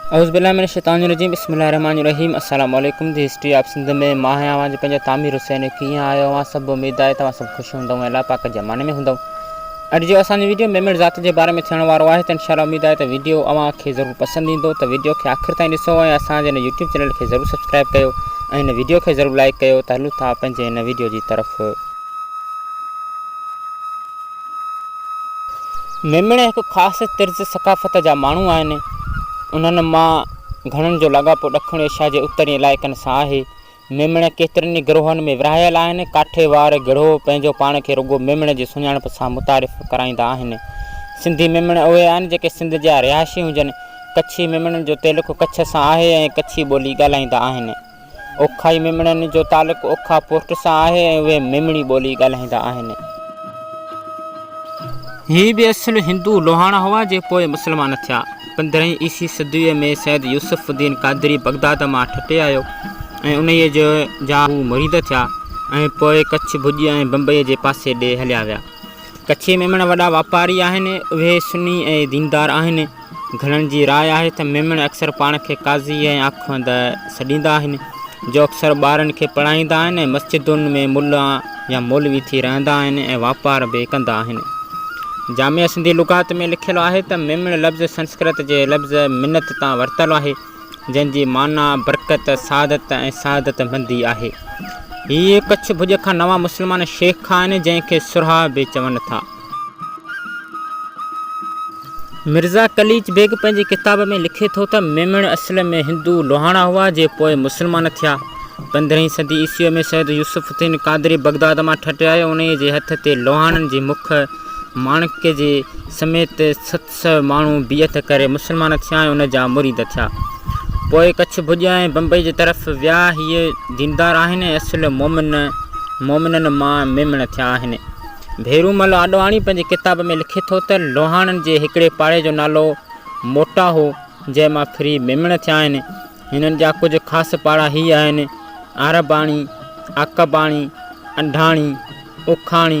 اعوذ بالله من الشيطان الرجيم بسم الله الرحمٰن الرحيم السلام عليڪم دي هسٽري آف سنڌ ۾ مان آهيان اوهان جو پنهنجو تعمير حسين ڪيئن آهيو اوهان سڀ اميد آهي ته اوهان سڀ خوش هوندؤ ۽ الله پاڪ جي امان ۾ هوندؤ اڄ جو اسان جو ويڊيو ميمڻ ذات جي باري ۾ ٿيڻ وارو آهي ته انشاء الله اميد آهي ته ويڊيو اوهان کي ضرور پسند ايندو ته ويڊيو کي آخر تائين ڏسو ۽ اسان جي هن يوٽيوب چينل کي ضرور سبسڪرائب ڪيو ۽ هن ويڊيو کي ضرور لائڪ ڪيو ته هلون ٿا پنهنجي هن ويڊيو جي طرف ميمڻا هڪ خاص طرز ثقافت جا ماڻهو آهن. انهن مان گهڻن جو لاڳاپو ڏکڻ ايشيا جي اترين علائقن سان آهي. ميمڻا ڪيترن ئي گروهن ۾ ورهايل آهن. ڪاٺيوار گروهه پنهنجو پاڻ کي رڳو ميمڻا جي سڃاڻپ سان متعارف ڪرائيندا آهن. سنڌي ميمڻا اهي آهن جيڪي سنڌ جا رهائشي هجن. ڪڇي ميمڻن جو تعلق ڪڇ سان آهي ۽ ڪڇي ٻولي ڳالهائيندا آهن. اوکائي ميمڻن جو تعلق اوکا پورٽ سان آهي ۽ اهي ميمڻي ٻولي ڳالهائيندا آهن. هي به اصل هندو لوهاڻا هئا جي پوء مسلمان ٿيا. پندرهين عيسي صديء ۾ سيد يوسف الدين قادري بغداد مان ٺٽي آيو ۽ انهيء جا هو مريد ٿيا ۽ پوء ڪڇ ڀڄي ۽ بمبئيء جي پاسي ڏي هليا ويا. ڪڇي ميمڻ وڏا واپاري آهن. اهي سني ۽ ديندار آهن. گهڻن جي راء آهي ته ميمڻ اڪثر پاڻ کي قاضي ۽ آخوند سڏيندا آهن، جو اڪثر ٻارن کي پڙهائيندا آهن ۽ مسجدن ۾ ملا يا مولوي ٿي رهندا آهن ۽ واپار به ڪندا آهن. جامع سنڌي لغات ۾ لکيل آهي ته ميمڻ لفظ سنسڪرت جي لفظ منت تان ورتل آهي. جنهن جي معنيٰ برڪت، سعادت ۽ سعادت مندي آهي. هي ڪڇ ڀڄ کان نوان مسلمان شيخ آهن، جنهن کي سرها به چون ٿا. مرزا قليچ بيگ پنهنجي ڪتاب ۾ لکي ٿو ته ميمڻ اصل ۾ هندو لوهاڻا هئا، جي پوء مسلمان ٿيا. پندرهين صدي عيسويء ۾ سيد يوسف الدين قادري بغداد مان ٺٽي آيو. انهيء جي هٿ تي لوهاڻن جي مک ماڻڪ جي سميت ست سئو ماڻهو بيعت ڪري مسلمان ٿيا ۽ ان جا مريد ٿيا. پوء ڪڇ ڀڄيا ۽ بمبئي جي طرف ويا. هي ديندار آهن ۽ اصل مومن، مومنن مان ميمڻ ٿيا آهن. ڀيرومل آڏواڻي پنهنجي ڪتاب ۾ لکي ٿو ته، لوهاڻن جي هڪڙي پاڙي جو نالو موٽا هو، جنهن مان ڦري ميمڻ ٿيا آهن. هنن جا ڪجهه خاص پاڙا هي آهن، آرباڻي، آڪباڻي، انڍاڻي، اوکاڻي،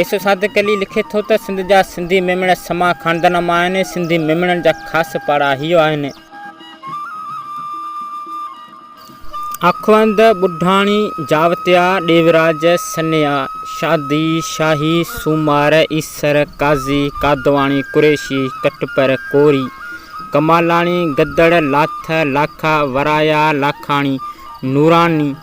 ايسو صادق علي لکي ٿو ته سنڌ جا سنڌي ميمڻ سما خاندان مان آهن ۽ سنڌي ميمڻن جا خاص پاڙاهيو آهن. آخوند، ٻڍاڻي، جاوتيا، ڏيوراج، سنيا، شادي، شاهي، سومار، ايسر، قاضي، قادواڻي، قريشي، ڪٽپر، ڪوري، ڪمالاڻي، گدڙ، لاٿ، لاکا، ورايا، لاکاڻي، نوراني،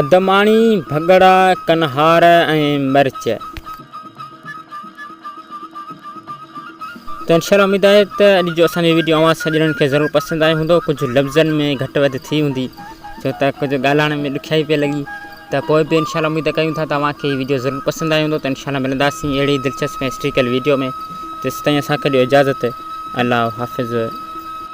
ادماڻي، ڀڳڙا، ڪنهار ۽ مرچ. ته انشاءالله اميد آهي ته اڄ جو اسان جي ويڊيو اوهان سڄڻن کي ضرور پسند آيو هوندو ڪجهه لفظن ۾ گهٽ وڌ ٿي هوندي ڇو ته ڪجهه ڳالهائڻ ۾ ڏکيائي پئي لڳي ته پوء به انشاءالله اميد ڪيون ٿا ته اوهان کي هي ويڊيو ضرور پسند آيو هوندو ته انشاءالله ملنداسين اهڙي دلچسپ ۽ هسٽريڪل ويڊيو ۾ تيسين تائين اسان کي ڏيو اجازت الله حافظ